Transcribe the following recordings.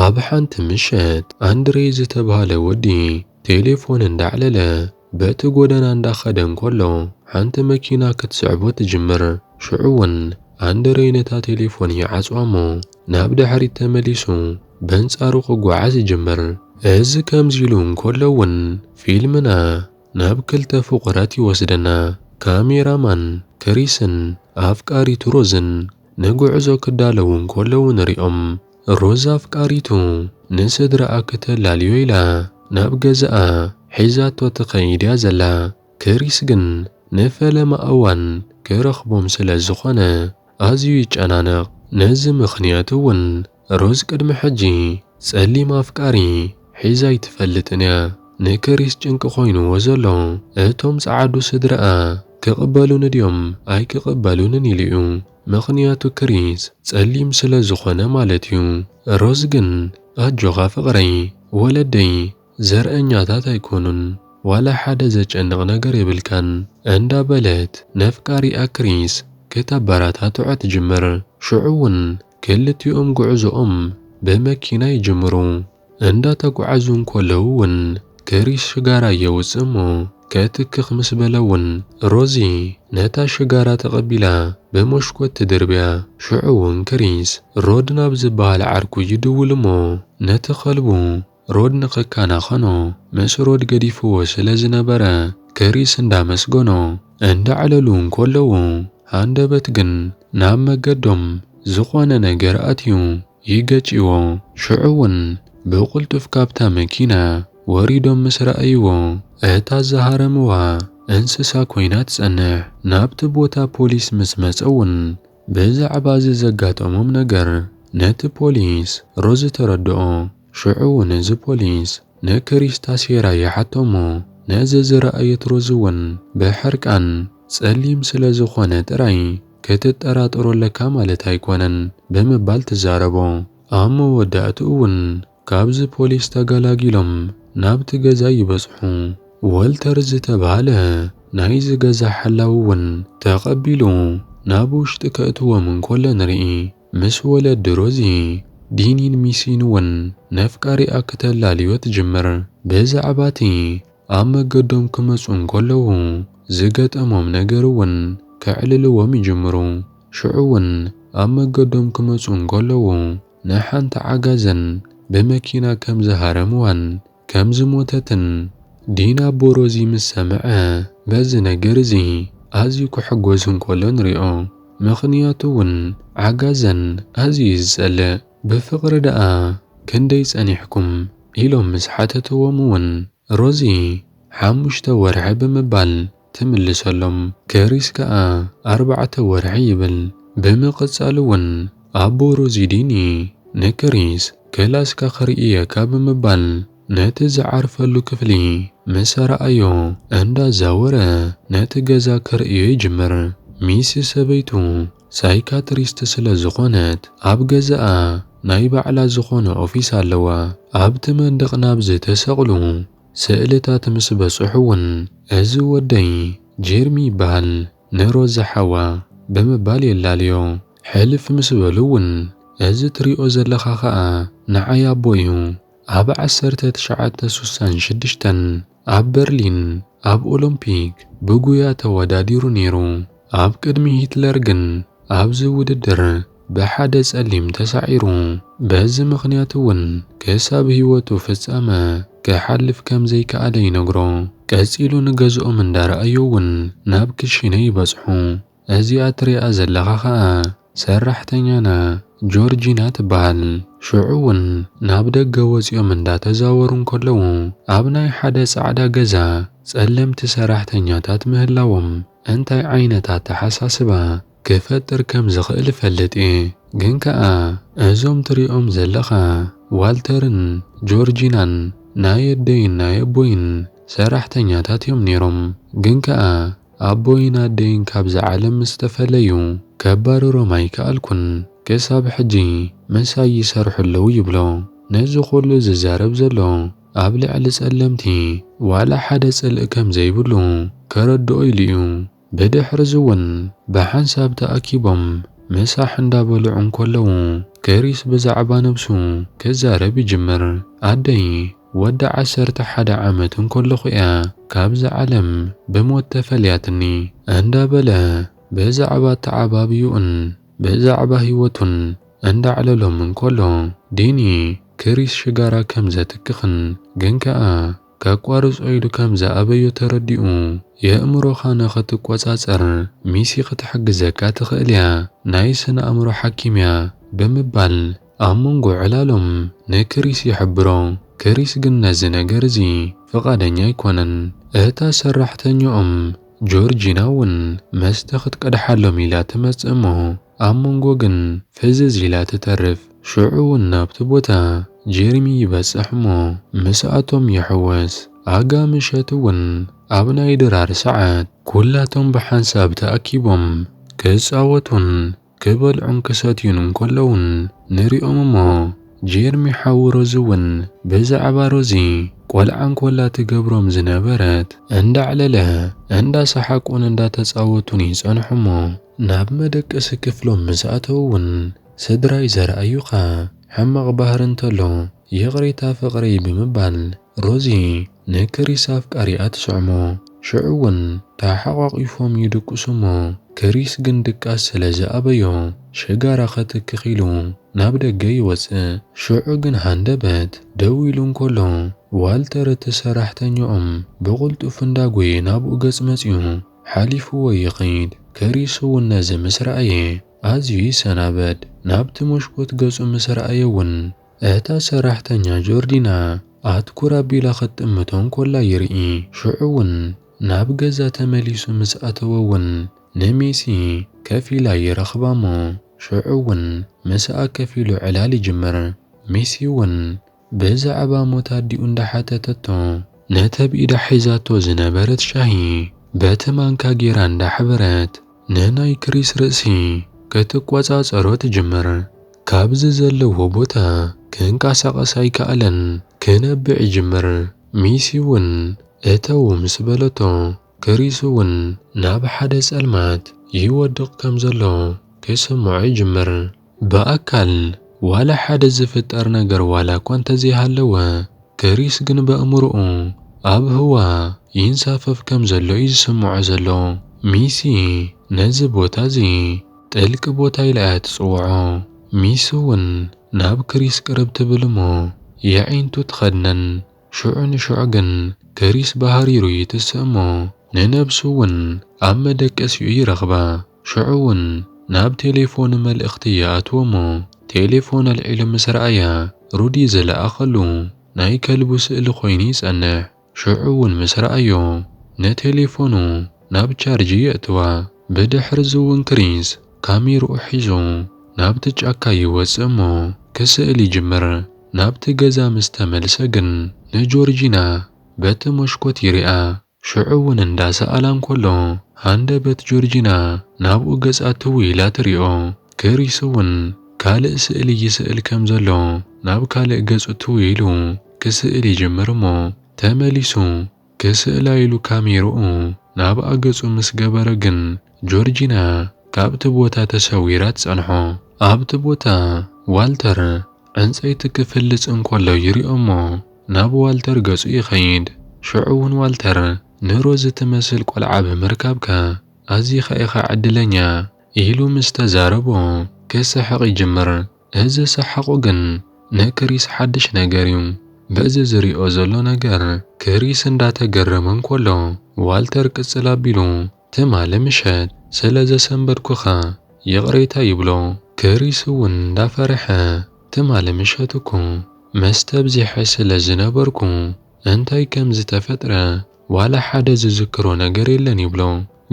ኣብ ሓንቲ ምሸት ኣንድሬ ዝተብሃለ ወዲ ቴሌፎን እንዳዕለለ በቲ ጎደና እንዳኸደ እንከሎ ሓንቲ መኪና ክትስዕቦ ትጅምር። ሽዑ ውን ኣንድሬ ነታ ቴሌፎን ይዓጽዋ እሞ ናብ ድሕሪት ተመሊሱ በንጻሩ ክጓዓዝ ይጅምር። እዚ ከምዚ ኢሉ እንከሎ ውን ፊልምና ናብ ክልተ ፍቑራት ይወስደና፣ ካሜራ ማን ክሪስን ኣፍቃሪቱ ሮዝን። ንጉዕዞ ክዳለዉ እንከለዉ ንሪኦም። ሮዛ ኣፍቃሪቱ ንስድራኣ ክተላልዮ ኢላ ናብ ገዛኣ ሒዛቶ ትኸይድ እያ ዘላ። ክሪስ ግን ንፈለማ እዋን ክረኽቦም ስለ ዝኾነ ኣዝዩ ይጨናነቕ። ነዚ ምኽንያት እውን ሮዝ ቅድሚ ሕጂ ጸሊም ኣፍቃሪ ሒዛ ኣይትፈልጥን እያ። ንክሪስ ጭንቂ ኮይንዎ ዘሎ እቶም ጸዓዱ ስድርኣ ክቅበሉኒ ድዮም ኣይክቅበሉንን ኢሉ እዩ ምኽንያቱ ክሪስ ጸሊም ስለ ዝኾነ ማለት እዩ። ሮዝ ግን ኣጆኻ ፍቅረይ ወለደይ ዘርኣኛታት ኣይኮኑን ዋላ ሓደ ዘጨንቅ ነገር የብልካን እንዳ በለት ነፍቃሪኣ ክሪስ ክተበራታትዖ ትጅምር ሽዑ ውን ክልቲኦም ጉዕዞኦም ብመኪና ይጅምሩ። እንዳተጉዓዙ እንኮለዉ ውን ክሪስ ሽጋራ የውጽእ እሞ ከትክኽ ምስ በለ ውን ሮዚ ነታ ሽጋራ ተቐቢላ ብሞሽኮት ትድርብያ። ሽዑ ውን ክሪስ ሮድ ናብ ዝብሃል ዓርኩ ይድውል እሞ ነቲ ከልቡ ሮድ ንኽከናኸኖ ምስ ሮድ ገዲፍዎ ስለ ዝነበረ ክሪስ እንዳመስገኖ እንዳዕለሉ እንኮለዉ ሃንደበት ግን ናብ መገዶም ዝኾነ ነገር ኣትዩ ይገጭዎ ሽዑ ውን ብቕልጡፍ ካብታ መኪና ወሪዶም ምስ ረኣይዎ እታ ዝሃረምዋ እንስሳ ኮይና ትጸንሕ ናብቲ ቦታ ፖሊስ ምስ መጸ ውን ብዛዕባ እዚ ዘጋጠሞም ነገር ነቲ ፖሊስ ሮዝ ተረድኦ። ሽዑውን እዚ ፖሊስ ንክሪስታ ሴራ ይሓቶ እሞ ነዚ ዝረኣየት ሮዝውን ብሕርቃን፣ ጸሊም ስለ ዝኾነ ጥራይ ክትጠራጠሮ ኣለካ ማለት ኣይኮነን ብምባል ትዛረቦ። ኣብ መወዳእትኡውን ካብዚ ፖሊስ ተገላጊሎም ናብቲ ገዛ ይበጽሑ። ወልተር ዝተባህለ ናይዚ ገዛ ሓላዊውን ተቐቢሉ ናብ ውሽጢ ከእትዎም እንኮሎ ንርኢ። ምስ ወለዲ ሮዚ፣ ዲኒን ሚሲን እውን ነፍቃሪኣ ክተላልዮ ትጅምር። ብዛዕባ እቲ ኣብ መገዶም ክመጹ እንከለዉ ዝገጠሞም ነገር እውን ከዕልልዎም ይጅምሩ። ሽዑ እውን ኣብ መገዶም ክመጹ እንከለዉ ንሓንቲ ዓጋዘን ብመኪና ከም ዝሃረምዋን፣ ከም ዝሞተትን ዲን ኣቦ ሮዚ ምስ ሰምዐ በዚ ነገር እዚ ኣዝዩ ክሕጎስ እንከሎ ንሪኦ ምኽንያቱ ውን ዓጋዘን ኣዝዩ ዩ ዝጸልእ ብፍቅሪ ደኣ ክንደይ ጸኒሕኩም ኢሎም ምስ ሓተትዎም ውን ሮዚ ሓሙሽተ ወርሒ ብምባል ትምልሰሎም። ክሪስ ከኣ ኣርባዕተ ወርሒ ይብል። ብምቕጻል'ውን ኣቦ ሮዚዲኒ ንክሪስ ክላስካ ክርእየካ ብምባል ነቲ ዝዓርፈሉ ክፍሊ ምስ ኣርኣዮ እንዳዛወረ ነቲ ገዛ ክርእዮ ይጅምር። ሚሲ ሰበይቱ ሳይካትሪስት ስለ ዝኾነት ኣብ ገዛኣ ናይ ባዕላ ዝኾነ ኦፊስ ኣለዋ። ኣብቲ መንደቕ ናብ ዝተሰቕሉ ስእልታት ምስ በጽሑ ውን እዚ ወደይ ጀርሚ ይበሃል ንሮዛ ሓዋ ብምባል የላልዮ። ሕልፍ ምስ በሉ ውን እዚ ትሪኦ ዘለኻ ከኣ ንዓይ ኣቦ ዩ ኣብ ዓሰርተ ትሽዓተ ሱሳን ሽዱሽተን ኣብ በርሊን ኣብ ኦሎምፒክ ብጉያ ተወዳዲሩ ኔሩ ኣብ ቅድሚ ሂትለር ግን ኣብዚ ውድድር ብሓደ ጸሊም ተሳዒሩ፣ በዚ ምኽንያት እውን ክሳብ ህይወቱ ፍጻመ ክሓልፍ ከም ዘይከኣለ ይነግሮ። ቀጺሉ ንገዝኦም እንዳረኣዮ እውን ናብ ክሽነ ይበጽሑ። እዚኣ ትሪኣ ዘለኻ ከኣ ሰራሕተኛና ጆርጂና ትበሃል። ሽዑ እውን ናብ ደገ ወጺኦም እንዳተዛወሩ እንከለዉ ኣብ ናይ ሓደ ጻዕዳ ገዛ ጸለምቲ ሰራሕተኛታት ምህላዎም እንታይ ዓይነት ኣተሓሳስባ ክፈጥር ከም ዝኽእል እፈልጥ እየ፣ ግን ከኣ እዞም ትሪኦም ዘለኻ ዋልተርን ጆርጂናን ናይ ኣደይን ናይ ኣቦይን ሰራሕተኛታት እዮም ነይሮም፣ ግን ከኣ ኣቦይን ኣደይን ካብዛ ዓለም ምስ ተፈለዩ ከባርሮም ኣይከኣልኩን፣ ክሳብ ሕጂ ምሳይ ይሰርሑ ኣለዉ ይብሎ፣ ነዚ ኩሉ ዝዛረብ ዘሎ ኣብ ልዕሊ ጸለምቲ ዋላ ሓደ ጽልኢ ከም ዘይብሉ ከረድኦ ኢሉ እዩ። ብድሕርዚ'ውን ብሓንሳብ ተኣኪቦም ምሳሕ እንዳበልዑ እንከለዉ፣ ክሪስ ብዛዕባ ነብሱ ክዛረብ ይጅምር። ኣደይ ወዲ ዓሰርተ ሓደ ዓመት እንከለኹ'ያ ካብዛ ዓለም ብሞት ተፈልያትኒ። እንዳበለ ብዛዕባ ኣተዓባብዩኡን ብዛዕባ ህይወቱን እንዳዕለሎም እንከሎ፣ ዲኒ ክሪስ ሽጋራ ከምዘትክኽን ግን ከኣ ከቋርጾ ኢሉ ከም ዝኣበዮ ተረዲኡ፣ የእምሮኻ ንኽትቈጻጸር ሚሲ ኽትሕግዘካ ትኽእል እያ፣ ናይ ስነ-ኣእምሮ ሓኪም እያ፣ ብምባል ኣብ መንጎ ዕላሎም ንክሪስ ይሕብሮ። ክሪስ ግን ነዚ ነገር እዚ ፍቓደኛ ኣይኰነን። እታ ሰራሕተኛኦም ጆርጂና እውን መስተ ኽትቀድሓሎም ኢላ ትመጽእ እሞ ኣብ መንጎ ግን ፍዝዝ ኢላ ትተርፍ። ሽዑ ውን ናብቲ ቦታ ጀርሚ ይበጽሕ እሞ ምስኣቶም ይሕወስ። ኣጋ ምሸት ውን ኣብ ናይ ድራር ሰዓት ኩላቶም ብሓንሳብ ተኣኪቦም ክጻወቱን ክበልዑን ክሰትዩን እንከለዉን ንሪኦም እሞ ጀርሚ ሓው ሮዚ ውን ብዛዕባ ሮዚ ቆልዓ እንኮላ ትገብሮም ዝነበረት እንዳዕለለ እንዳሰሓቁን እንዳተጻወቱን ይጸንሑ እሞ ናብ መደቀሲ ክፍሎም ምስኣተዉ ውን ስድራይ ዘርኣዩኻ ሕማቕ ባህሪ እንተሎ ይቕሬታ ፍቕሪ ብምባል ሮዚ ንክሪስ ኣፍቃሪኣ ትስዕሞ። ሽዑ'ውን ተሓቛቒፎም ይድቅሱ እሞ ክሪስ ግን ድቃስ ስለ ዝኣበዮ ሽጋራ ከትክኽ ኢሉ ናብ ደገ ይወጽእ። ሽዑ ግን ሃንደበት ደው ኢሉ እንከሎ ዋልተር እቲ ሰራሕተኛኦም ብቕልጡፍ እንዳጎየ ናብኡ ገጽ መጽዩ ሓሊፍዎ ይኸይድ። ክሪስ'ውን ነዚ ምስ ረኣየ ኣዝዩ ይሰናበድ ናብቲ መሽኮት ገጹ ምስ ረኣየ'ውን፣ እታ ሰራሕተኛ ጆርዲና ኣትኩር ኣቢላ ክትጥምቶ እንኮላ ይርኢ። ሽዑ'ውን ናብ ገዛ ተመሊሱ ምስ ኣተወ'ውን ንሜሲ ከፍ ኢላ ይረኽባ'ሞ፣ ሽዑ'ውን ምስኣ ከፍ ኢሉ ዕላል ይጅምር። ሜሲ'ውን ብዛዕባ ሞት ኣዲኡ እንዳሓተተቶ፣ ነቲ ኣብ ኢዳ ሒዛቶ ዝነበረት ሻሂ በቲ ማንካ ጌራ እንዳሕበረት ንናይ ክሪስ ርእሲ ክትቆጻጸሮ ትጅምር። ካብዚ ዘለዎ ቦታ ክንቀሳቐስ ኣይከኣለን ክነብዕ ይጅምር። ሚሲ ውን እተው ምስ በለቶ፣ ክሪስ ውን ናብ ሓደ ጸልማት ይወድቕ ከም ዘሎ ክስምዖ ይጅምር። ብኣካል ዋላ ሓደ ዝፍጠር ነገር ዋላኳ እንተዘይሃለወ፣ ክሪስ ግን በእምሮኡ ኣብ ህዋ ይንሳፈፍ ከምዘሎ'ዩ ዝስምዖ ዘሎ። ሚሲ ነዚ ቦታ'ዚ ጥልቂ ቦታ ኢላ'ያ ትጽውዖ። ሚሲ'ውን ናብ ክሪስ ቅርብ ትብል'ሞ የዒንቱ ትኸድነን። ሽዑ ንሽዑ ግን ክሪስ ብሃሪሩ ይትስእ እሞ ንነብሱ እውን ኣብ መደቀሲኡ ይረኽባ። ሽዑ እውን ናብ ቴሌፎኑ መልእኽቲ ይኣትዎ እሞ ቴሌፎን ኣልዒሉ ምስ ረኣያ ሩዲ ዝለኣኸሉ ናይ ከልቡ ስእሊ ኮይኑ ይጸንሕ። ሽዑ እውን ምስ ረኣዮ ንቴሌፎኑ ናብ ቻርጂ የእትዋ። ብድሕርዚ እውን ክሪስ ካሜርኡ ሒዙ ናብቲ ጫካ ይወጽእ እሞ ክስእል ይጅምር። ናብቲ ገዛ ምስ ተመልሰ ግን ንጆርጂና በቲ መሽኮት ይሪኣ። ሽዑ ውን እንዳ ሰኣላ እንከሎ ሃንደበት ጆርጂና ናብኡ ገጻ ትው ኢላ ትሪኦ። ክሪስ ውን ካልእ ስእሊ ይስእል ከም ዘሎ ናብ ካልእ ገጹ ትው ኢሉ ክስእል ይጅምር እሞ ተመሊሱ ክስእላ ኢሉ ካሜርኡ ናብኣ ገጹ ምስ ገበረ ግን ጆርጂና ካብቲ ቦታ ተሰዊራ ትጸንሖ። ኣብቲ ቦታ ዋልተር ዕንጸይቲ ክፍልጽ እንከሎ ይሪኦ'ሞ ናብ ዋልተር ገጹ ይኸይድ። ሽዑ'ውን ዋልተር ንሮዚ ትመስል ቆልዓ ብምርካብካ ኣዚኻ ኢኻ ዕድለኛ ኢሉ ምስ ተዛረቦ ክስሕቕ ይጅምር። እዚ ሰሓቑ ግን ንክሪስ ሓድሽ ነገር እዩ። በዚ ዝሪኦ ዘሎ ነገር ክሪስ እንዳተገረመ እንከሎ ዋልተር ቅፅል ኣቢሉ ትማሊ ምሸት ስለ ዘሰንበድኩኻ ይቕሬታ ይብሎ። ክሪስ እውን እንዳፈረሐ ትማሊ ምሸት እኮ መስተ ኣብዚሐ ስለ ዝነበርኩ እንታይ ከም ዝተፈጥረ ዋላ ሓደ ዝዝክሮ ነገር የለን ይብሎ።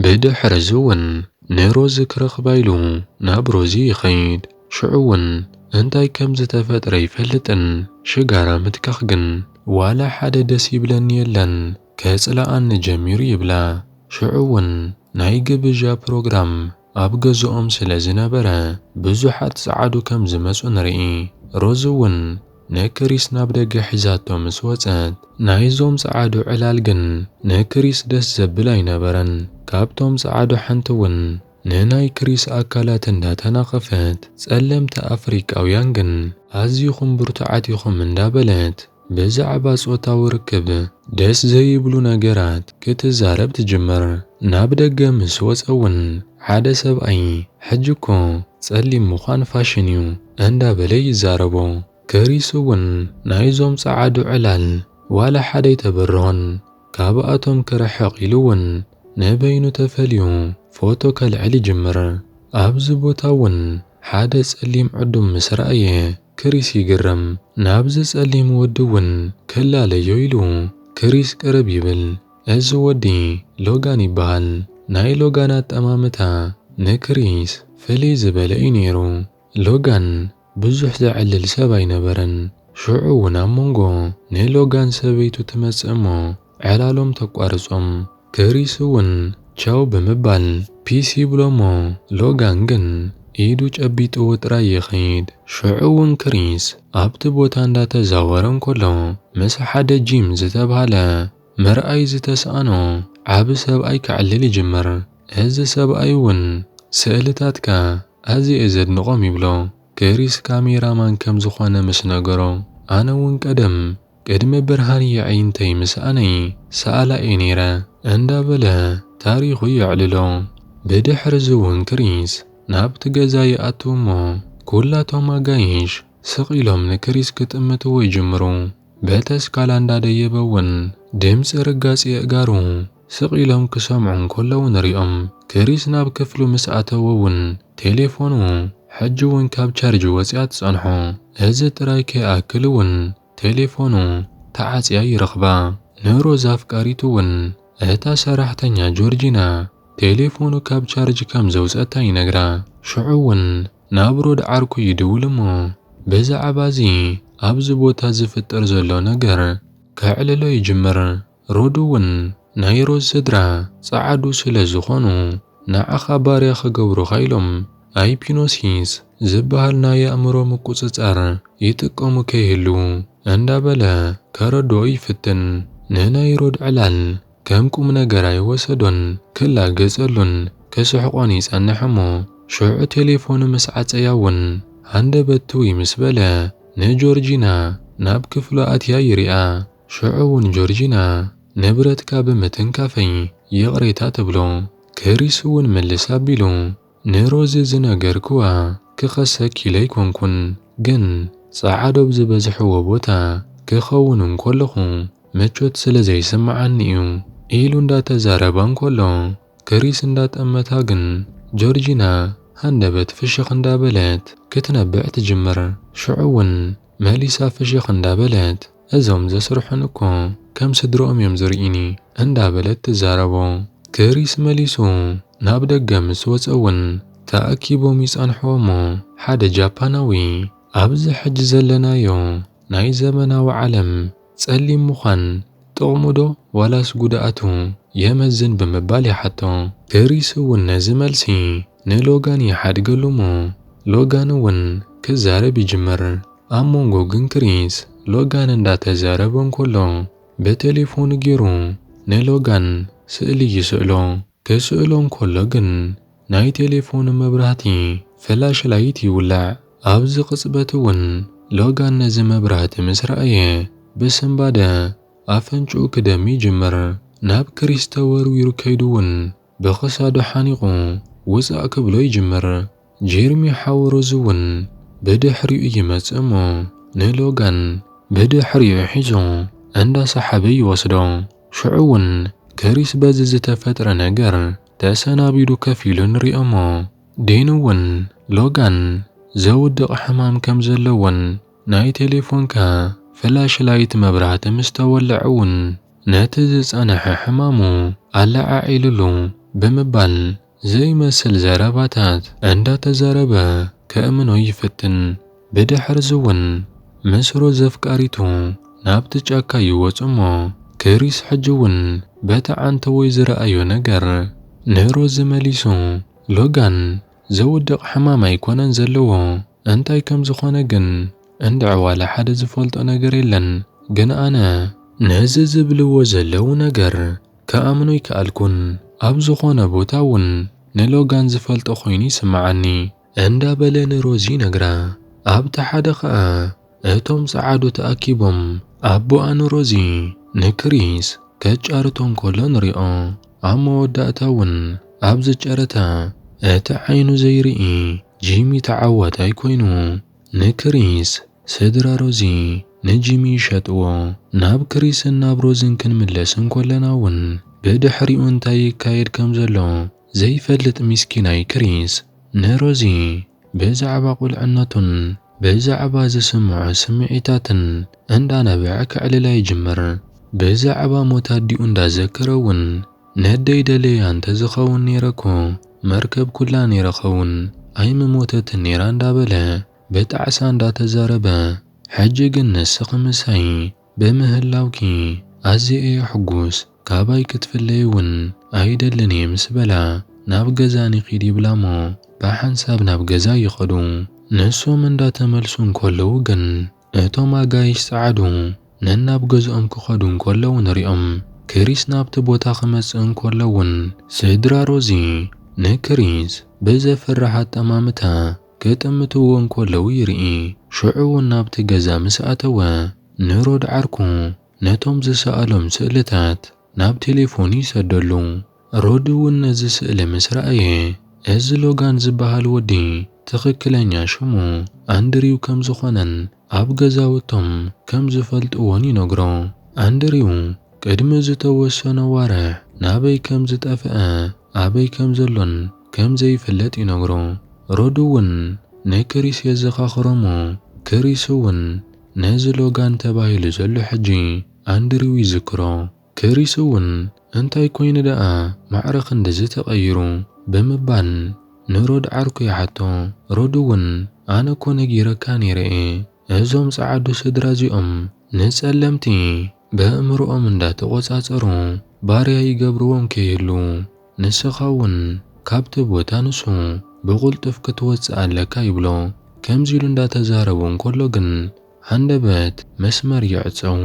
ብድሕርዚ'ውን ንሮዚ ክረኽባ ኢሉ ናብ ሮዚ ይኸይድ። ሽዑ'ውን እንታይ ከም ዝተፈጥረ ኣይፈልጥን። ሽጋራ ምትካኽ ግን ዋላ ሓደ ደስ ይብለኒ የለን፣ ከጽልኣኒ ጀሚሩ ይብላ። ሽዑ'ውን ናይ ግብዣ ፕሮግራም ኣብ ገዝኦም ስለ ዝነበረ ብዙሓት ጸዓዱ ከም ዝመጹ ንርኢ። ሮዝ እውን ንክሪስ ናብ ደገ ሒዛቶ ምስ ወጸት። ናይዞም ጸዓዱ ዕላል ግን ንክሪስ ደስ ዘብል ኣይነበረን። ካብቶም ጸዓዱ ሓንቲ እውን ንናይ ክሪስ ኣካላት እንዳ ተናኸፈት፣ ጸለምቲ ኣፍሪቃውያን ግን ኣዚኹም ብርቱዓት ኢኹም እንዳ በለት፣ ብዛዕባ ጾታዊ ርክብ ደስ ዘይብሉ ነገራት ክትዛረብ ትጅምር። ናብ ደገ ምስ ወጸ እውን ሓደ ሰብኣይ ሕጂ እኮ ጸሊም ምዃን ፋሽን እዩ እንዳበለ ይዛረቦ። ክሪስ እውን ናይዞም ጸዓዱ ዕላል ዋላ ሓደ ኣይተበርሆን። ካብኣቶም ክርሕቕ ኢሉ እውን ንበይኑ ተፈልዩ ፎቶ ከልዕል ይጅምር። ኣብዚ ቦታ እውን ሓደ ጸሊም ዕዱም ምስ ረኣየ፣ ክሪስ ይግረም፣ ናብዚ ጸሊም ወዲ እውን ክላለዮ ኢሉ። ክሪስ ቅርብ ይብል፣ እዚ ወዲ ሎጋን ይበሃል። ናይ ሎጋን ኣጠማምታ ንክሪስ ፍልይ ዝበለ እዩ ነይሩ። ሎጋን ብዙሕ ዘዕልል ሰብ ኣይነበረን። ሽዑ እውን ኣብ መንጎ ንሎጋን ሰበይቱ ትመጽእ እሞ ዕላሎም ተቋርጾም ክሪስ እውን ቻው ብምባል ፒስ ይብሎ'ሞ ሎጋን ግን ኢዱ ጨቢጥዎ ጥራይ ይኸይድ። ሽዑ እውን ክሪስ ኣብቲ ቦታ እንዳተዛወረ እንከሎ ምስ ሓደ ጂም ዝተብሃለ ምርኣይ ዝተስኣኖ ዓቢ ሰብኣይ ከዕልል ይጅምር። እዚ ሰብኣይ እውን ስእልታትካ ኣዝየ'የ ዘድንቖም ይብሎ። ክሪስ ካሜራ ማን ከም ዝኾነ ምስ ነገሮ ኣነ ውን ቀደም ቅድሚ ብርሃን የዒንተይ ምስኣነይ ሰኣላ እየ ነይረ እንዳ በለ ታሪኹ የዕልሎ። ብድሕሪ እዚ ውን ክሪስ ናብቲ ገዛ ይኣቱ እሞ ኩላቶም ኣጋይሽ ስቕ ኢሎም ንክሪስ ክጥምትዎ ይጅምሩ በተስካላ እንዳ ደየበ ውን ድምጺ ርጋጽ የእጋሩ ስቕ ኢሎም ክሰምዑ እንከለዉ ንሪኦም። ክሪስ ናብ ክፍሉ ምስ ኣተወ እውን ቴሌፎኑ ሕጂ እውን ካብ ቻርጅ ወጺኣ ትጸንሖ። እዚ ጥራይ ከይኣክል እውን ቴሌፎኑ ተዓጽያ ይረኽባ። ንሮዝ ኣፍቃሪቱ እውን እታ ሰራሕተኛ ጆርጂና ቴሌፎኑ ካብ ቻርጅ ከም ዘውጸታ ይነግራ። ሽዑ እውን ናብ ሮድ ዓርኩ ይድውል እሞ ብዛዕባ እዚ ኣብዚ ቦታ ዝፍጠር ዘሎ ነገር ከዕልሎ ይጅምር። ሮዱ ውን ናይ ሮዝ ስድራ ጸዓዱ ስለ ዝኾኑ ንዓኻ ባርያ ክገብሩኻ ኢሎም ኣይፒኖሲስ ዝብሃል ናይ ኣእምሮ ምቁጽጻር ይጥቀሙ ከይህልዉ እንዳ በለ ከረድኦ ይፍትን። ንናይ ሮድ ዕላል ከም ቁምነገር ኣይወሰዶን ክላገጸሉን ክስሕቆን ይጸንሕ እሞ ሽዑ ቴሌፎኑ ምስ ዓጸያ ውን ሃንደበት ትውይ ምስ በለ ንጆርጂና ናብ ክፍሉ ኣትያ ይሪኣ። ሽዑ እውን ጆርጂና ንብረትካ ብምትንካፈይ ይቕሬታ ትብሎ። ክሪስ እውን ምልስ ኣቢሉ ንሮዚ ዝነገርክዋ ክኸሰኪ ኢለ ኣይኮንኩን፣ ግን ጸዓዱ ኣብ ዝበዝሕዎ ቦታ ክኸውን እንከለኹ ምቾት ስለ ዘይስምዓኒ እዩ ኢሉ እንዳተዛረባ እንከሎ ክሪስ እንዳጠመታ ግን ጆርጂና ሃንደበት ፍሽኽ እንዳበለት ክትነብዕ ትጅምር። ሽዑ እውን መሊሳ ፍሽኽ እንዳበለት። እዞም ዘስርሑኒ እኮ ከም ስድርኦም እዮም ዝርኢኒ እንዳ በለት ትዛረቦ። ክሪስ መሊሱ ናብ ደገ ምስ ወጸ እውን ተኣኪቦም ይጸንሕዎ እሞ ሓደ ጃፓናዊ ኣብዚ ሕጂ ዘለናዮ ናይ ዘመናዊ ዓለም ጸሊም ምዃን ጥቕሙ ዶ ዋላስ ጉድኣቱ የመዝን ብምባል ይሓቶ። ክሪስ እውን ነዚ መልሲ ንሎጋን ይሓድገሉ እሞ ሎጋን እውን ክዛረብ ይጅምር። ኣብ መንጎ ግን ክሪስ ሎጋን እንዳተዛረበ እንከሎ ብቴሌፎኑ ጌሩ ንሎጋን ስእሊ ይስእሎ። ክስእሎ እንከሎ ግን ናይ ቴሌፎኑ መብራህቲ፣ ፍላሽ ላይት፣ ይውላዕ። ኣብዚ ቅጽበት እውን ሎጋን ነዚ መብራህቲ ምስ ረኣየ ብስንባደ ኣፍንጭኡ ክደሚ ይጅምር። ናብ ክሪስ ተወርዊሩ ከይዱ እውን ብክሳዱ ሓኒቑ ውጻእ ክብሎ ይጅምር። ጄርሚ ሓው ሮዝ እውን ብድሕሪኡ ይመጽእ እሞ ንሎጋን ብድሕሪኡ ሒዙ እንዳሰሓበ ይወስዶ። ሽዑ እውን ክሪስ በዚ ዝተፈጥረ ነገር ተሰናቢዱ ከፍ ኢሉ ንሪኦ እሞ ዴን እውን ሎጋን ዘውድቕ ሕማም ከም ዘለዎን ናይ ቴሌፎንካ ፍላሽ ላይት መብራህቲ ምስ ተወልዐ እውን ነቲ ዝጸንሐ ሕማሙ ኣለዓዒሉሉ ብምባል ዘይመስል ዘረባታት እንዳተዛረበ ከእምኖ ይፍትን። ብድሕርዚ'ውን ምስ ሮዝ ኣፍቃሪቱ ናብቲ ጫካ ይወጽእ'ሞ ክሪስ ሕጂ'ውን በቲ ዓንተቦይ ዝረኣዮ ነገር ንሮዝ መሊሱ ሎጋን ዘውድቕ ሕማም ኣይኮነን ዘለዎ። እንታይ ከም ዝኾነ ግን እንድዒ ዋላ ሓደ ዝፈልጦ ነገር የለን ግን ኣነ ነዚ ዝብልዎ ዘለዉ ነገር ክኣምኖ ኣይከኣልኩን ኣብ ዝኾነ ቦታ ውን ንሎጋን ዝፈልጦ ኮይኑ ይስምዓኒ እንዳ በለ ንሮዚ ይነግራ ኣብቲ ሓደ ከኣ እቶም ጸዓዱ ተኣኪቦም ኣቦኣን ሮዚ ንክሪስ ከጫርቶ እንከሎ ንሪኦ። ኣብ መወዳእታ እውን ኣብዚ ጨረታ እቲ ዓይኑ ዘይርኢ ጂሚ ተዓዋታይ ኮይኑ። ንክሪስ ስድራ ሮዚ ንጂሚ ይሸጥዎ። ናብ ክሪስን ናብ ሮዝን ክንምለስ እንከለና እውን ብድሕሪኡ እንታይ ይካየድ ከምዘሎ ዘይፈልጥ ሚስኪናይ ክሪስ ንሮዚ። ብዛዕባ ቁልዕነቱን ብዛዕባ ዝስምዖ ስምዒታትን እንዳነበዐ ከዕልላ ይጅምር። ብዛዕባ ሞት ኣዲኡ እንዳዘከረ እውን ነደይ ደልየያ እንተዝኸውን ነይረ'ኮ መርከብ ኩላ ነይረ'ኸውን ኣይምሞተትን ነይራ እንዳበለ ብጣዕሳ እንዳተዛረበ ሕጂ ግን ንስኺ ምሳይ ብምህላውኪ ኣዝየ እየ ሕጉስ፣ ካባይ ክትፍለዪ እውን ኣይደልን እየ ምስ በላ፣ ናብ ገዛ ንኺድ ይብላ እሞ ብሓንሳብ ናብ ገዛ ይኸዱ። ንሶም እንዳተመልሱ እንከለዉ ግን እቶም ኣጋይሽ ጸዓዱ ነናብ ገዝኦም ክኸዱ እንከለዉ ንሪኦም። ክሪስ ናብቲ ቦታ ክመጽእ እንከሎ እውን ስድራ ሮዚ ንክሪስ ብዘፍርሕ ኣጠማምታ ኬጠምትዎ እንከለዉ ይርኢ። ሽዑውን ናብቲ ገዛ ምስ ኣተወ፣ ንሮድ ዓርኩ ነቶም ዝሰኣሎም ስእልታት ናብ ቴሌፎኑ ይሰደሉ። ሮድውን ነዚ ስእሊ ምስ ረኣየ፣ እዚ ሎጋን ዝበሃል ወዲ ትኽክለኛ ሽሙ ኣንድሪው ከም ዝዀነን ኣብ ገዛውቶም ከም ዝፈልጥዎን ይነግሮ። ኣንድሪው ቅድሚ ዝተወሰነ ዋርሕ ናበይ ከም ዝጠፍኣ ኣበይ ከም ዘሎን ከም ዘይፍለጥ ይነግሮ። ሮድ'ውን ንክሪስ የዘኻኽሮ'ሞ ክሪስ'ውን ነዚ ሎጋን ተባሂሉ ዘሎ ሕጂ ኣንድሪው ይዝክሮ። ክሪስ እውን እንታይ ኮይኑ ደኣ ማዕረ ክንድዚ ተቐይሩ? ብምባል ንሮድ ዓርኩ ይሓቶ። ሮድ እውን ኣነ እኮ ነጊረካ ነይረ እየ፣ እዞም ጸዓዱ ስድራ እዚኦም ንጸለምቲ በእእምርኦም እንዳተቖጻጸሩ ባርያ ይገብርዎም ከይህልዉ፣ ንስኻ እውን ካብቲ ቦታ ንሱ ብቕልጡፍ ክትወጽእ ኣለካ ይብሎ። ከምዚ ኢሉ እንዳተዛረቡ እንከሎ ግን ሃንደበት መስመር ይዕጸው።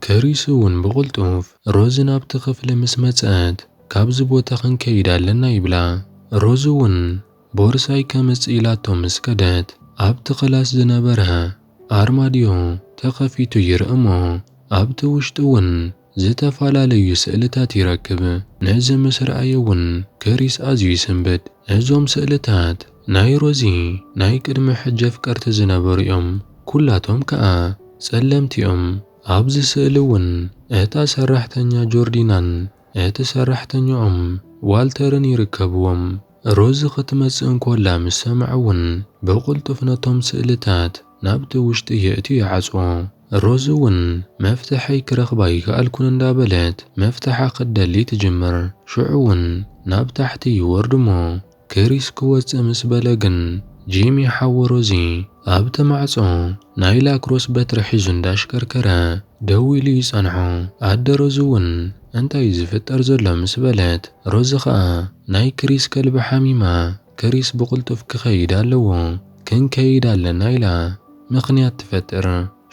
ክሪስ እውን ብቕልጡፍ ሮዝ ናብቲ ክፍሊ ምስ መጸት፣ ካብዚ ቦታ ክንከይድ ኣለና ይብላ። ሮዝ እውን ቦርሳይ ከምጽእ ኢላቶ ምስ ከደት፣ ኣብቲ ክላስ ዝነበረ ኣርማድዮ ተኸፊቱ ይርኢ እሞ ኣብቲ ውሽጢ እውን ዝተፈላለዩ ስእልታት ይረክብ። ነዚ ምስ ረኣየ እውን ክሪስ ኣዝዩ ይስንብድ። እዞም ስእልታት ናይ ሮዚ ናይ ቅድሚ ሕጂ ኣፍቀርቲ ዝነበሩ እዮም ኩላቶም ከኣ ጸለምቲ እዮም ኣብዚ ስእሊ እውን እታ ሰራሕተኛ ጆርዲናን እቲ ሰራሕተኛኦም ዋልተርን ይርከብዎም ሮዚ ክትመጽእ እንኮላ ምስ ሰምዐ እውን ብቅልጡፍ ነቶም ስእልታት ናብቲ ውሽጢ የእትዩ ይዓጽዎ። ሮዝ'ውን መፍትሐይ ክረኽብ ኣይከኣልኩን እንዳ በለት መፍትሓ ክትደሊ ትጅምር። ሽዑ'ውን ናብ ታሕቲ ይወርድ'ሞ ክሪስ ክወጽእ ምስ በለ ግን ጂሚ ሓው ሮዚ ኣብቲ ማዕጾ ናይ ላክሮስ በትሪ ሒዙ እንዳሽከርከረ ደው ኢሉ ይጸንሖ። ኣደ ሮዝ'ውን እንታይ'ዩ ዝፍጠር ዘሎ ምስ በለት ሮዚ ከኣ ናይ ክሪስ ከልቢ ሓሚማ ክሪስ ብቕልጡፍ ክኸይድ ኣለዎ፣ ክንከይድ ኣለና ኢላ ምኽንያት ትፈጥር።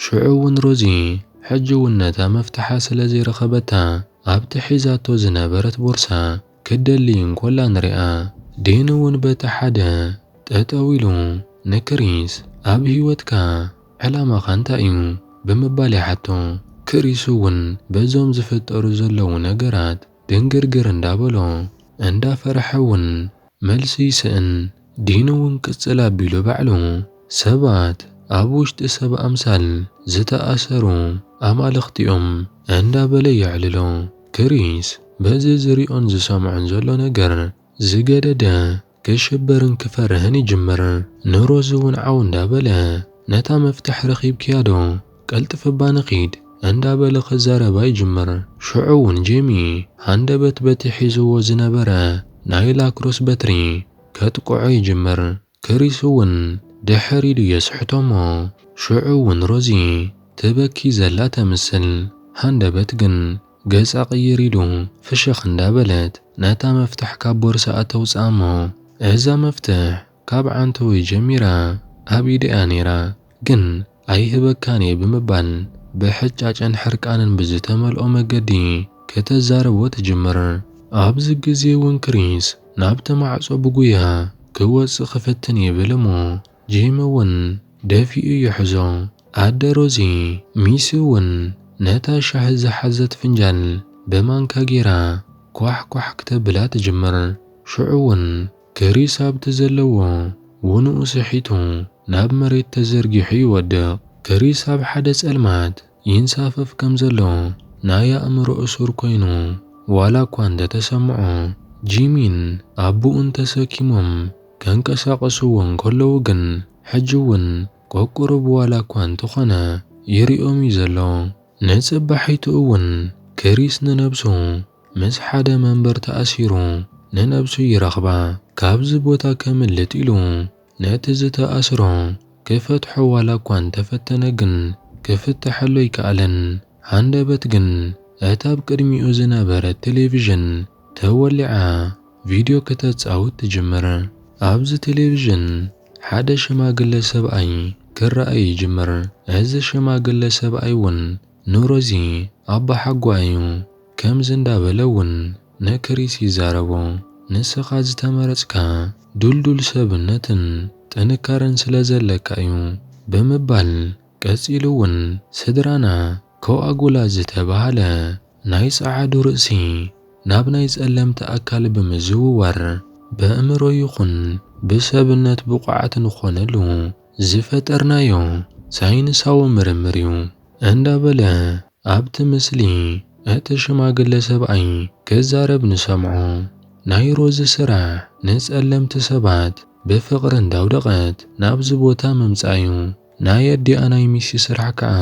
ሽዑ እውን ሮዚ ሕጂ እውን ነታ መፍትሓ ስለ ዘይረኸበታ ኣብቲ ሒዛቶ ዝነበረት ቦርሳ ክትደሊ እንኮላ ንሪኣ። ዴን እውን በቲ ሓደ ጠጠው ኢሉ ንክሪስ ኣብ ህይወትካ ዕላማኻ እንታይ እዩ? ብምባል ይሓቶ። ክሪስ እውን በዞም ዝፍጠሩ ዘለዉ ነገራት ድንግርግር እንዳበሎ እንዳፈርሐ እውን መልሲ ይስእን ዲኑ ውን ቅጽል ኣቢሉ ባዕሉ ሰባት ኣብ ውሽጢ ሰብ ኣምሳል ዝተኣሰሩ ኣማልኽቲ ዮም እንዳ በለ የዕልሎ። ክሪስ በዚ ዝሪኦን ዝሰምዖን ዘሎ ነገር ዝገደደ ክሽበርን ክፈርህን ይጅምር። ንሮዚ ውን ዓው እንዳ በለ ነታ መፍትሕ ረኺብክያ ዶ ቀልጥፍ እባ ንኺድ እንዳበለ ክዛረባ ይጅምር። ሽዑ ውን ጄሚ ሃንደበት በቲ ሒዝዎ ዝነበረ ናይ ላክሮስ በትሪ ከጥቅዖ ይጅምር። ክሪስ ውን ድሕር ኢሉ የስሕቶ'ሞ ሽዑ ውን ሮዚ ትበኪ ዘላ ተምስል። ሃንደበት ግን ገጻ ቅይር ኢሉ ፍሽኽ እንዳበለት ነታ መፍትሕ ካብ ቦርስኣ ተውጽኣ'ሞ እዛ መፍትሕ ካብ ዓንተወይ ጀሚራ ኣብ ኢደይ'ያ ነይራ፣ ግን ኣይህበካን'የ ብምባል ብሕጫጨን ሕርቃንን ብዝተመልኦ መገዲ ከተዛርቦ ትጅምር። ኣብዚ ግዜ'ውን ክሪስ ናብቲ ማዕጾ ብጉያ ክወጽእ ክፍትን ይብል'ሞ ጂም'ውን ደፊኡ ይሕዞ። ኣደ ሮዚ ሚስ'ውን ነታ ሻሂ ዝሓዘት ፍንጃል ብማንካ ገይራ ኳሕ ኳሕ ክተብላ ትጅምር። ሽዑ'ውን ከሪስ ኣብቲ ዘለዎ ውኑኡ ስሒቱ ናብ መሬት ተዘርጊሑ ይወድቕ። ከሪስ ኣብ ሓደ ጸልማት ይንሳፈፍ ከም ዘሎ ናይ ኣእምሮ እሱር ኮይኑ ዋላ እኳ እንተ ተሰምዖ፣ ጂሚን ኣቡኡን ተሰኪሞም ከንቀሳቕስዎ እንከለዉ ግን ሕጂ እውን ቆቅሩብ ዋላ እኳ እንተኾነ ይሪኦም እዩ ዘሎ። ንጽባሒቱ እውን ከሪስ ንነብሱ ምስ ሓደ መንበር ተኣሲሩ ንነብሱ ይረኽባ ካብዚ ቦታ ከምልጥ ኢሉ ነቲ ዝተኣስሮ ክፈትሖ ዋላ እኳ እንተፈተነ ግን ክፍተሐሉ ኣይከኣለን። ሃንደበት ግን እታ ኣብ ቅድሚኡ ዝነበረት ቴሌቪዥን ተወሊዓ ቪድዮ ክተጻውት ትጅምር። ኣብዚ ቴሌቪዥን ሓደ ሽማግለ ሰብኣይ ክረኣ ይጅምር። እዚ ሽማግለ ሰብኣይ እውን ንሮዚ ኣቦሓጓ'ዩ ከምዚ እንዳበለ'ውን ንክሪስ ይዛረቦ። ንስኻ ዝተመረጽካ ድልዱል ሰብነትን ጥንካረን ስለ ዘለካ'ዩ ብምባል ቀጺሉ'ውን ስድራና ኮኣጉላት ዝተባህለ ናይ ጸዓዱ ርእሲ ናብ ናይ ጸለምቲ ኣካል ብምዝውዋር በእምሮ ይኹን ብሰብነት ብቑዓት ንኾነሉ ዝፈጠርናዮ ሳይንሳዊ ምርምር እዩ እንዳበለ ኣብቲ ምስሊ እቲ ሽማግለ ሰብኣይ ክዛረብ ንሰምዖ። ናይ ሮዚ ስራሕ ንጸለምቲ ሰባት ብፍቕሪ እንዳውደቐት ናብዚ ቦታ ምምጻእ እዩ። ናይ ኣዲኣ ናይ ሚሲ ስራሕ ከኣ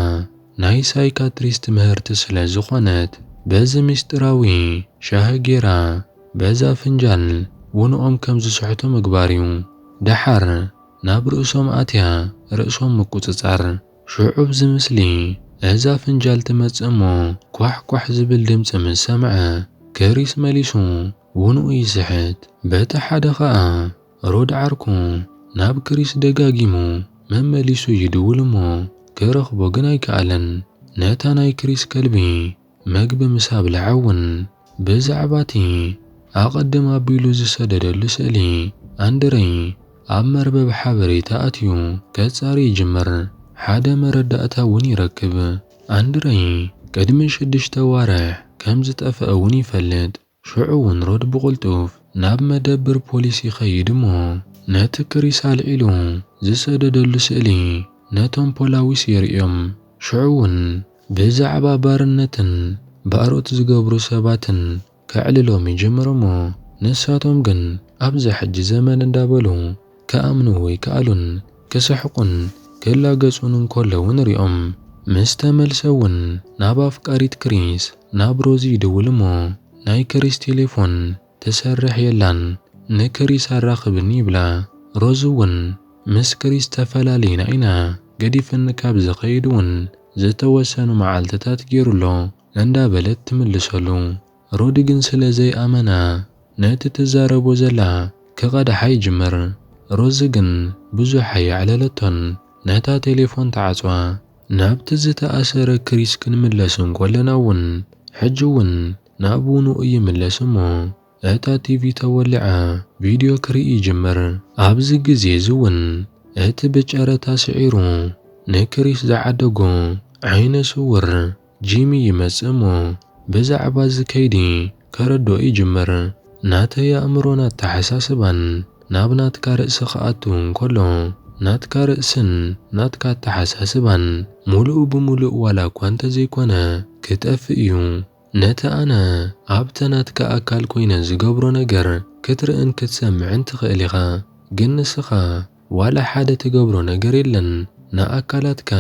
ናይ ሳይካትሪስ ትምህርቲ ስለ ዝኾነት በዚ ምስጢራዊ ሻሂ ጌራ በዛ ፍንጃል ውንኦም ከም ዝስሕቱ ምግባር እዩ። ደሓር ናብ ርእሶም ኣትያ ርእሶም ምቁጽጻር። ሽዑ ኣብዚ ምስሊ እዛ ፍንጃል ትመጽእ እሞ ኳሕ ኳሕ ዝብል ድምጺ ምስ ሰምዐ ከሪስ መሊሱ ውንኡ ይስሕት። በቲ ሓደ ከኣ ሮድ ዓርኩ ናብ ክሪስ ደጋጊሙ መመሊሱ ይድውል እሞ ክረኽቦ ግን ኣይከኣለን። ነታ ናይ ክሪስ ከልቢ መግቢ ምስ ኣብልዐ እውን ብዛዕባ እቲ ኣቐድም ኣቢሉ ዝሰደደሉ ስእሊ ኣንድረይ ኣብ መርበብ ሓበሬታ ኣትዩ ከጻሪ ይጅምር፣ ሓደ መረዳእታ እውን ይረክብ። ኣንድረይ ቅድሚ ሽዱሽተ ኣዋርሕ ከም ዝጠፍአ እውን ይፈልጥ። ሽዑ እውን ሮድ ብቕልጡፍ ናብ መደብር ፖሊስ ይኸይድ እሞ ነቲ ክሪስ ኣልዒሉ ዝሰደደሉ ስእሊ ነቶም ፖላዊስ የርእዮም። ሽዑ እውን ብዛዕባ ባርነትን ባሮት ዝገብሩ ሰባትን ከዕልሎም ይጅምር እሞ ንሳቶም ግን ኣብዛ ሕጂ ዘመን እንዳበሉ ክኣምኑ ወይ ክኣሉን ክስሕቁን ክላገጹን እንከለዉ ንሪኦም። ምስ ተመልሰ እውን ናብ ኣፍቃሪት ክሪስ ናብ ሮዚ ይድውል እሞ ናይ ክሪስ ቴሌፎን ትሰርሕ የላን ንክሪስ ኣራኽብኒ ይብላ። ሮዚ እውን ምስ ክሪስ ተፈላሊና ኢና ገዲፍኒ ካብ ዝኸይድ እውን ዝተወሰኑ መዓልትታት ገይሩ ኣሎ እንዳበለት ትምልሰሉ። ሮዲ ግን ስለ ዘይኣመና ነቲ ትዛረቦ ዘላ ክቐድሓ ይጅምር። ሮዚ ግን ብዙሕ ኣየዕለለቶን ነታ ቴሌፎን ትዓጽዋ። ናብቲ ዝተኣሰረ ክሪስ ክንምለስ እንኮለና ውን ሕጂ ውን ናብ ውንኡ ይምለስ እሞ እታ ቲቪ ተወሊዓ ቪድዮ ክርኢ ይጅምር። ኣብዚ ግዜ እዚ ውን እቲ ብጨረታ ስዒሩ ንክሪስ ዝዓደጎ ዓይነ ስውር ጂሚ ይመጽእ እሞ ብዛዕባ እዚ ከይዲ ከረድኦ ይጅምር። ናተይ ኣእምሮን ኣተሓሳስባን ናብ ናትካ ርእሲ ክኣቱ እንከሎ፣ ናትካ ርእስን ናትካ ኣተሓሳስባን ሙሉእ ብሙሉእ ዋላ እኳ እንተዘይኮነ ክጠፍእ እዩ። ነቲ ኣነ ኣብቲ ናትካ ኣካል ኮይነ ዝገብሮ ነገር ክትርእን ክትሰምዕን ትኽእል ኢኻ፣ ግን ንስኻ። ዋላ ሓደ ትገብሮ ነገር የለን ንኣካላትካ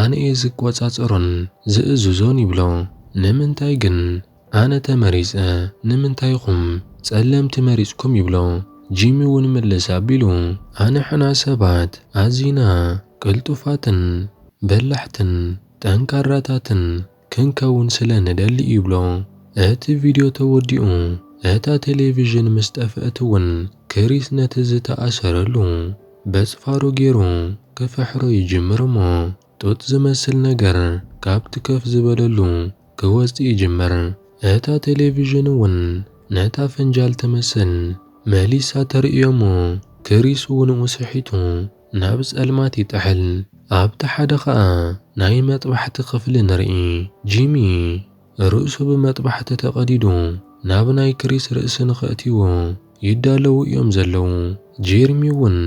ኣነ እየ ዝቆጻጸሮን ዝእዝዞን ይብሎ ንምንታይ ግን ኣነ ተመሪጸ ንምንታይ ኢኹም ጸለምቲ መሪጽኩም ይብሎ ጂሚ ውን ምልስ ኣቢሉ ኣንሕና ሰባት ኣዚና ቅልጡፋትን በላሕትን ጠንካራታትን ክንከውን ስለ ንደሊ እዩ ይብሎ። እቲ ቪድዮ ተወዲኡ እታ ቴሌቪዥን ምስ ጠፍአት እውን ክሪስ ነቲ ዝተኣሰረሉ በጽፋሩ ገይሩ ክፍሕሮ ይጅምር እሞ ጡጥ ዝመስል ነገር ካብቲ ከፍ ዝበለሉ ክወጽእ ይጅምር። እታ ቴሌቪዥን እውን ነታ ፈንጃል ትመስል መሊሳ ተርእዮ እሞ ክሪስ ውንኡ ስሒቱ ናብ ጸልማት ይጥሕል። ኣብቲ ሓደ ኸኣ ናይ መጥባሕቲ ኽፍሊ ንርኢ። ጂሚ ርእሱ ብመጥባሕቲ ተቐዲዱ ናብ ናይ ክሪስ ርእሲ ንኸእትይዎ ይዳለዉ እዮም ዘለዉ። ጄርሚ እውን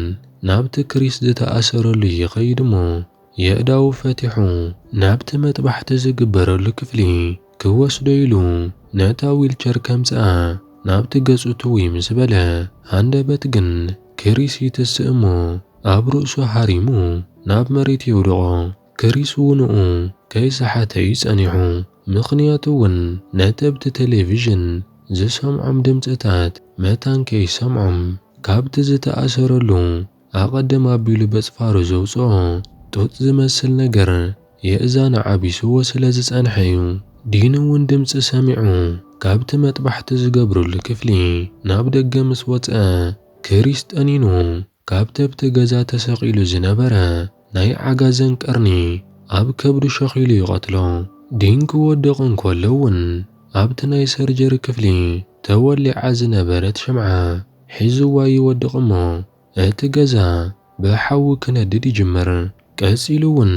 ናብቲ ክሪስ ዝተኣሰረሉ ይኸይድ እሞ የእዳዉ ፈቲሑ ናብቲ መጥባሕቲ ዝግበረሉ ክፍሊ ክወስዶ ኢሉ ነታ ዊልቸር ከምጽኣ ናብቲ ገጹ ትውይ ምስ በለ ሃንደበት ግን ክሪስ ይትስእ እሞ ኣብ ርእሱ ሃሪሙ ናብ መሬት የውድቖ። ክሪስ ውንኡ ከይሰሓተ እዩ ጸኒሑ ምኽንያቱ እውን ነቲ ኣብቲ ቴሌቪዥን ዝሰምዖም ድምጽታት መታን ከይሰምዖም ካብቲ ዝተኣሰረሉ ኣቐድም ኣቢሉ በጽፋሩ ዘውጽኦ ጡጥ ዝመስል ነገር የእዛኑ ዓቢሱዎ ስለ ዝጸንሐ'ዩ። ዲኑ'ውን ድምጺ ሰሚዑ ካብቲ መጥባሕቲ ዝገብሩሉ ክፍሊ ናብ ደገ ምስ ወጽኣ፣ ክሪስ ጠኒኑ ካብተ'ብቲ ገዛ ተሰቒሉ ዝነበረ ናይ ዓጋዘን ቀርኒ ኣብ ከብዱ ሸኺሉ ይቐትሎ። ዲን ክወድቕ እንከሎ'ውን ኣብቲ ናይ ሰርጀሪ ክፍሊ ተወሊዓ ዝነበረት ሽምዓ ሒዝዋ ይወድቕ እሞ እቲ ገዛ ብሓዊ ክነድድ ይጅምር። ቀጺሉ እውን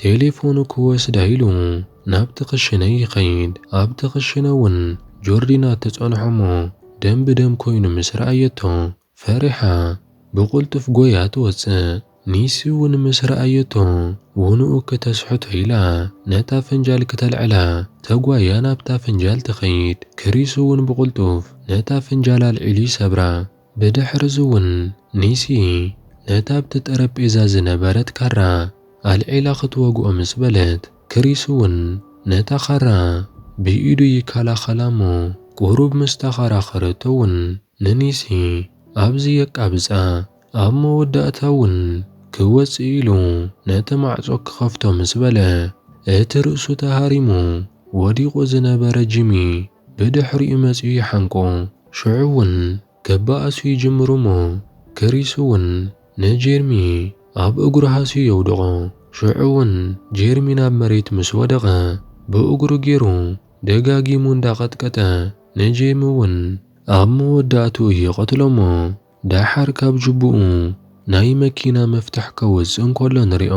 ቴሌፎኑ ክወስዳ ኢሉ ናብቲ ክሽነ ይኸይድ። ኣብቲ ክሽነ እውን ጆርዲና ትጸንሖ እሞ ደም ብደም ኮይኑ ምስ ረኣየቶ ፈሪሓ ብቕልጡፍ ጎይያ ትወጽእ። ኒሲ'ውን ምስ ረኣየቶ ውኑኡ ክተስሕቶ ኢላ ነታ ፍንጃል ክተልዕላ ተጓያ ናብታ ፍንጃል ትኸይድ። ክሪስ'ውን ብቕልጡፍ ነታ ፍንጃል ኣልዒሉ ይሰብራ። ብድሕር'ዚ'ውን ኒሲ ነታ ኣብቲ ጠረጴዛ ዝነበረት ካራ ኣልዒላ ክትወግኦ ምስ በለት ክሪስ'ውን ነታ ካራ ብኢዱ ይከላኸላ'ሞ ቁሩብ ምስ ተኸራኸረቶ'ውን ንኒሲ ኣብዚ የቃብጻ። ኣብ መወዳእታ እውን ክወጽእ ኢሉ ነቲ ማዕጾ ክኸፍቶ ምስ በለ፣ እቲ ርእሱ ተሃሪሙ ወዲቑ ዝነበረ ጂሚ ብድሕሪኡ መጺኡ ይሓንቆ። ሽዑ እውን ክበኣሱ ይጅምሩ እሞ ክሪስ እውን ንጄርሚ ኣብ እግሩ ሃስዩ የውድቖ። ሽዑ እውን ጄርሚ ናብ መሬት ምስ ወደቐ ብእግሩ ገይሩ ደጋጊሙ እንዳቐጥቀጠ ንጄሚ እውን ኣብ መወዳእትኡ ይቐትሎ እሞ ደሓር ካብ ጁቡኡ ናይ መኪና መፍትሕ ከውጽእ እንከሎ ንሪኦ።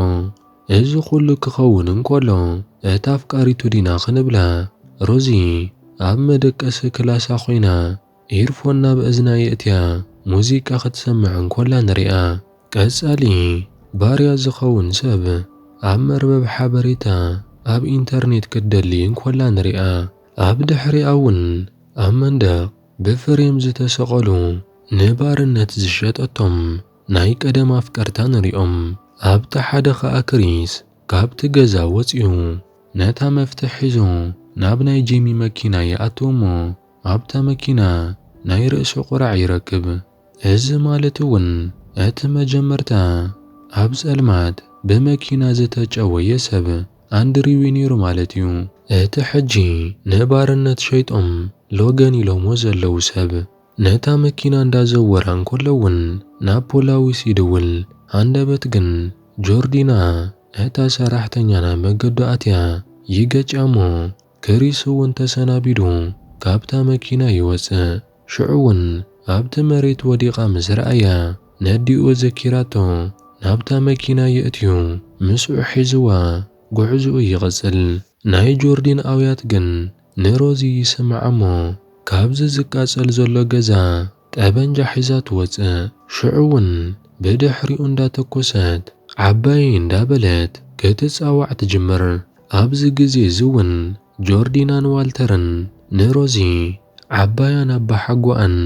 እዚ ኩሉ ክኸውን እንከሎ እታ ኣፍቃሪቱ ዲና ክንብላ ሮዚ ኣብ መደቀሲ ክላሳ ኮይና ኢርፎን ናብ እዝና የእትያ ሙዚቃ ክትሰምዕ እንከላ ንሪኣ። ቀጻሊ ባርያ ዝኸውን ሰብ ኣብ መርበብ ሓበሬታ ኣብ ኢንተርኔት ክትደሊ እንከላ ንሪኣ። ኣብ ድሕሪኣ ውን ኣብ መንደቕ ብፍሬም ዝተሰቐሉ ንባርነት ዝሸጠቶም ናይ ቀደም ኣፍቀርታ ንሪኦም። ኣብቲ ሓደ ከኣ ክሪስ ካብቲ ገዛ ወጺኡ ነታ መፍትሕ ሒዙ ናብ ናይ ጄሚ መኪና ይኣቱ እሞ ኣብታ መኪና ናይ ርእሲ ቁራዕ ይረክብ። እዚ ማለት እውን እቲ መጀመርታ ኣብ ጸልማት ብመኪና ዝተጨወየ ሰብ ኣንድሪው እዩ ነይሩ ማለት እዩ። እቲ ሕጂ ንባርነት ሸይጦም ሎገን ኢሎምዎ ዘለዉ ሰብ ነታ መኪና እንዳዘወራ እንከሎ እውን ናብ ፖላዊስ ይድውል ሃንደበት ግን ጆርዲና እታ ሰራሕተኛ ናብ መገዱ ኣትያ ይገጭያ እሞ ክሪስ እውን ተሰናቢዱ ካብታ መኪና ይወጽእ። ሽዑ እውን ኣብቲ መሬት ወዲቓ ምስ ረኣያ፣ ነዲኡ ዘኪራቶ ናብታ መኪና የእትዩ ምስኡ ሒዝዋ ጉዕዝኡ ይቕጽል። ናይ ጆርዲን ኣውያት ግን ንሮዚ ይስምዓ እሞ ካብዚ ዝቃጸል ዘሎ ገዛ ጠበንጃ ሒዛ ትወጽእ ሽዑ ውን ብድሕሪኡ እንዳተኮሰት ዓባየይ እንዳበለት ክትጻዋዕ ትጅምር ኣብዚ ግዜ እዚ ውን ጆርዲናን ዋልተርን ንሮዚ ዓባያን ኣባሓጎኣን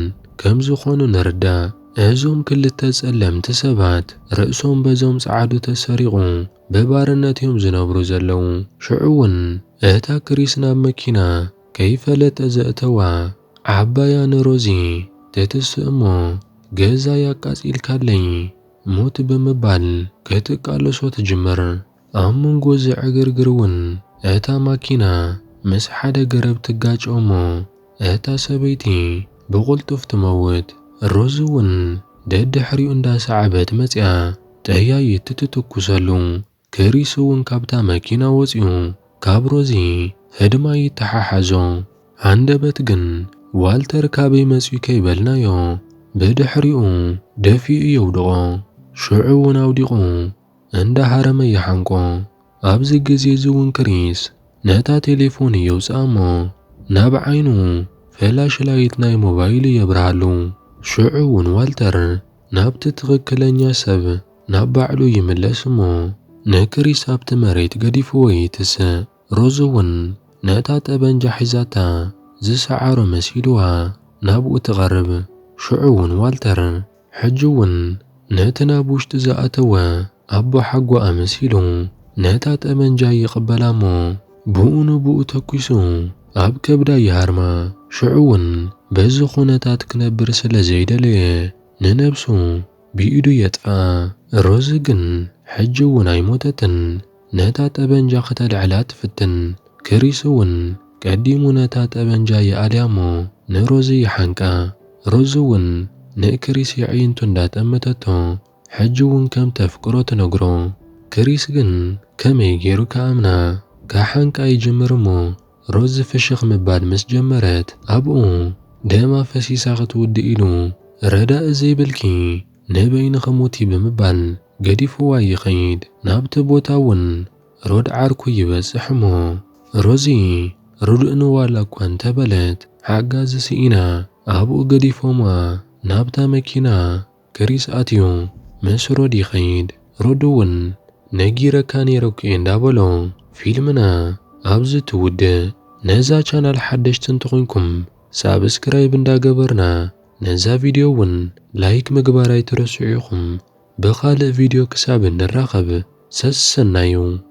ከም ዝኾኑ ንርዳእ እዞም ክልተ ጸለምቲ ሰባት ርእሶም በዞም ጸዓዱ ተሰሪቑ ብባርነት እዮም ዝነብሩ ዘለዉ ሽዑ ውን እታ ክሪስ ናብ መኪና ከይፈለጠ ዘእተዋ ዓባያ ንሮዚ ተትስእ እሞ ገዛይ ኣቃጺልካለይ ሙት ብምባል ክትቃለሶ ትጅምር። ኣብ መንጎ እዚ ዕግርግር እውን እታ ማኪና ምስ ሓደ ገረብ ትጋጮ እሞ እታ ሰበይቲ ብቕልጡፍ ትመውት። ሮዚ እውን ደድሕሪኡ እንዳሰዓበት መጺኣ ጠያይት ትትኩሰሉ። ክሪስ እውን ካብታ መኪና ወጺኡ ካብ ሮዚ ህድማ ይተሓሓዞ። ሃንደበት ግን ዋልተር ካበይ መጺኡ ከይበልናዮ ብድሕሪኡ ደፊኡ የውድቖ። ሽዑ እውን ኣውዲቑ እንዳ ሃረመ ይሓንቆ። ኣብዚ ግዜ እዚ እውን ክሪስ ነታ ቴሌፎኑ የውጽኣ እሞ ናብ ዓይኑ ፍላሽ ላይት ናይ ሞባይሉ የብርሃሉ። ሽዑ እውን ዋልተር ናብቲ ትኽክለኛ ሰብ ናብ ባዕሉ ይምለስ እሞ ንክሪስ ኣብቲ መሬት ገዲፍዎ ይትስእ። ሮዝ እውን ነታ ጠበንጃ ሒዛታ ዝሰዓሮ መሲልዋ ናብኡ ትቐርብ። ሽዑ እውን ዋልተር ሕጂ እውን ነቲ ናብ ውሽጢ ዝኣተወ ኣቦሓጎ ኣመሲሉ ነታ ጠበንጃ ይቕበላ እሞ ብኡ ንብኡ ተኲሱ ኣብ ከብዳ ይሃርማ። ሽዑ እውን በዚ ዅነታት ክነብር ስለ ዘይደለየ ንነብሱ ብኢዱ የጥፍኣ። ሮዚ ግን ሕጂ እውን ኣይሞተትን። ነታ ጠበንጃ ክተልዕላ ትፍትን። ክሪስ እውን ቀዲሙ ነታ ጠበንጃ ይኣልያ እሞ ንሮዚ ይሓንቃ። ሮዚ እውን ንክሪስ የዕይንቱ እንዳጠመተቶ ሕጂ እውን ከም እተፍቅሮ ትነግሮ። ክሪስ ግን ከመይ ገይሩ ክኣምና? ክሓንቃ ይጅምር እሞ ሮዚ ፍሽኽ ምባል ምስ ጀመረት ኣብኡ ደም ኣፈሲሳ ክትውድእ ኢሉ ረዳኢ ዘይብልኪ ንበይንኺ ሙቲ ብምባል ገዲፍዋ ይኸይድ። ናብቲ ቦታ እውን ሮድ ዓርኩ ይበጽሕ እሞ ሮዚ ርዱእኒ ዋላ እኳ እንተበለት ሓጋዚ ስኢና ኣብኡ ገዲፎምዋ ናብታ መኪና ግሪስ ኣትዩ ምስ ሮዲ ይኸይድ ሮዲ ውን ነጊረካ ኔረኩ እየ እንዳበሎ ፊልምና ኣብዚ ትውድእ። ነዛ ቻናል ሓደሽቲ እንተኾይንኩም ሳብስክራይብ እንዳገበርና ነዛ ቪድዮ ውን ላይክ ምግባር ኣይትረስዑ ኢኹም ብኻልእ ቪድዮ ክሳብ ንራኸብ ሰሰናዩ።